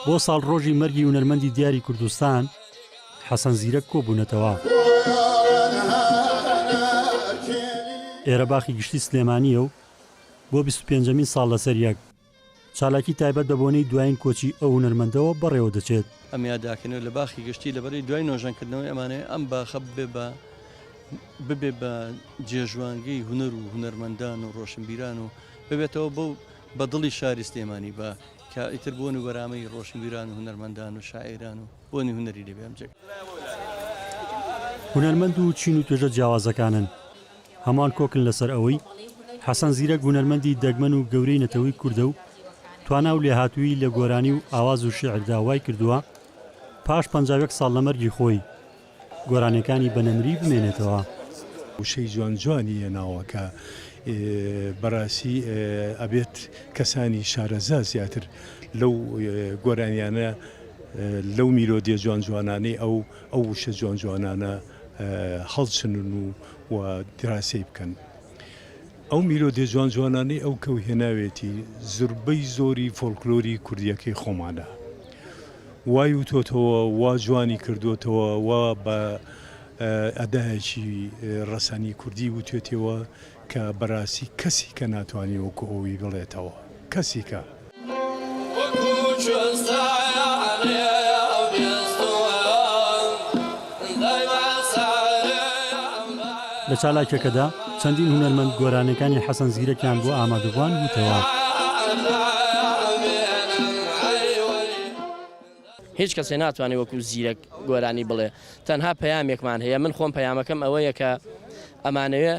بۆ ساڵڕۆژی مەرگی هونەرمەندی دیاری کوردستان حەسەن زیرەک کۆبوونەتەوە. ئێرە باخی گشتی سلێمانییە و بۆ بیست و پێنجەمین ساڵ لەسەریەک، چالاکی تایبەت بە بۆنەی دوایین کۆچی ئەو هونەرمەندەوە بەڕێوە دەچێت. ئەم یاداکەنەوە لە باخی گشتی لە بەرەی دوای نۆژەنکردنەوەی ئەمانەیە، ئەم باخە ببێ بە ببێ بە جێژوانگەی هونەر و هونەرمەندان و ڕۆشنبیران و ببێتەوە بەو بە دڵی شاری سلێمانی بە کە ئیتر بۆن و بەرامەی ڕۆشنبیران و هونەرمەندان و شاعیران و بۆنی هونەری لێ بێ ئەم جێگە هونەرمەند و چین و توێژە جیاوازەکانن. هەموان کۆکن لەسەر ئەوەی حەسەن زیرەک هونەرمەندی دەگمەن و گەورەی نەتەوەی کوردە و توانا و لێهاتوویی لە گۆرانی و ئاواز و شیعردا وای کردووە پاش پەنجا و یەک ساڵ لە مەرگی خۆی گۆرانیەکانی بە نەمری بمێنێتەوە. وشەی جوان جوانی یە ناوەکە بەراسی ئەبێت کەسانی شارەزا زیاتر لەو گۆرانیانە لەو میلۆدیە جوان جوانانەی ئەو ئەو وشە جوان جوانانە هەڵچنن و و دراسەی بکەن ئەو میلۆدیە جوان جوانانەی ئەو کەو هێناوێتی زربەی زۆری فۆلکلۆری کوردیەکەی خۆمانە وای وتۆتەوە وا جوانی کردوتەوە وا بە ئەدایەکی ڕەسەنی کوردی وتێتەوە کە بەراسی کەسی کە ناتوانانی وەکو ئەوی بڵێتەوە کەسیکە. لە چالاکیەکەدا چەندین هونەرمەند گۆرانیەکانی حەسەن زیرەکیان بۆ ئامادەبوان وتەوە. هیچ کەسێ ناتوانێ وەکو زیرەک گۆرانی بڵێ تەنها پەیامێکمان هەیە من خۆم پەیامەکەم ئەوەیە کە ئەمانەوێ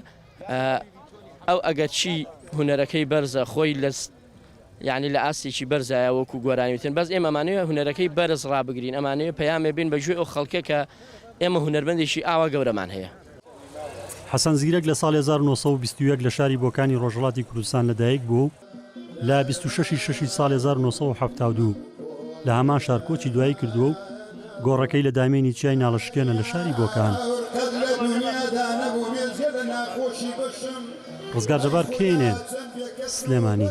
ئەو ئەگەرچی هونەرەکەی بەرزە خۆی لە یەعنی لە ئاستێکی بەرزایە وەکو گۆرانی وتن بەس ئێمە ئەمانەوێ هونەرەکەی بەرز ڕابگرین ئەمانەوێ پەیامێ بێن بە گوێی ئەو خەڵکە کە ئێمە هونەرمەندێکی ئاوا گەورەمان هەیە. حەسەن زیرەک لە ساڵی هەزار و نۆ سەد و بیست و یەک لە شاری بۆکانی ڕۆژهەڵاتی کوردستان لە دایک بووە و لە بیست و شەش ی شەشی ساڵی هەزار و نۆ سەد و حەفتا و دوو لە هەمان شار کۆچی دوایی کردووە و گۆڕەکەی لە دامێنی چیای ناڵەشکێنە لە شاری بۆکان. ڕزگار جەبار، کێینێ، سلێمانی.